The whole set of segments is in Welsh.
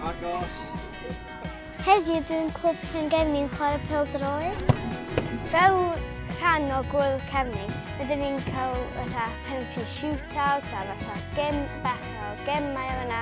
Agos. Heddiw dwi'n clwb Llangefni'n chwarae pel droed. Fel rhan o gwyl cefni, rydyn ni'n cael fatha penalty shootout a fatha gem bach o gemau yna.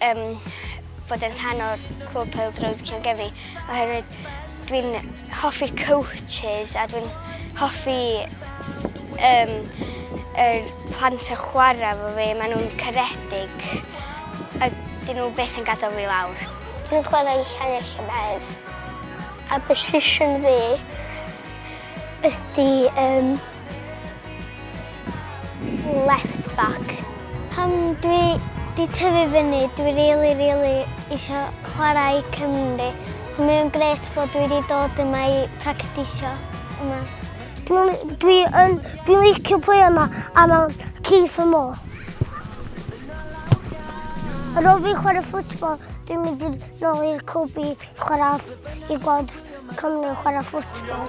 Yym, bod yn rhan o'r Clwb Pêl-droed Llangefni oherwydd dwi'n hoffi'r coaches a dwi'n hoffi yym yr plant yn chwarae efo fi, maen nhw'n caredig a 'dyn nhw byth yn gadael fi lawr. Dwi'n chwarae i Llangefni llynedd a position fi ydy yym Left back. Pan dwi di tyfu fyny dwi rili rili isio chwara i Cymru so mae o'n grêt bod dwi di dod yma i practisio yma. Dwi yn dwi'n licio play yma a ma' o'n key for more. Ar ôl fi chwara football dwi'n mynd i'r nôl i'r clwb i chwara i gweld Cymru chwara football.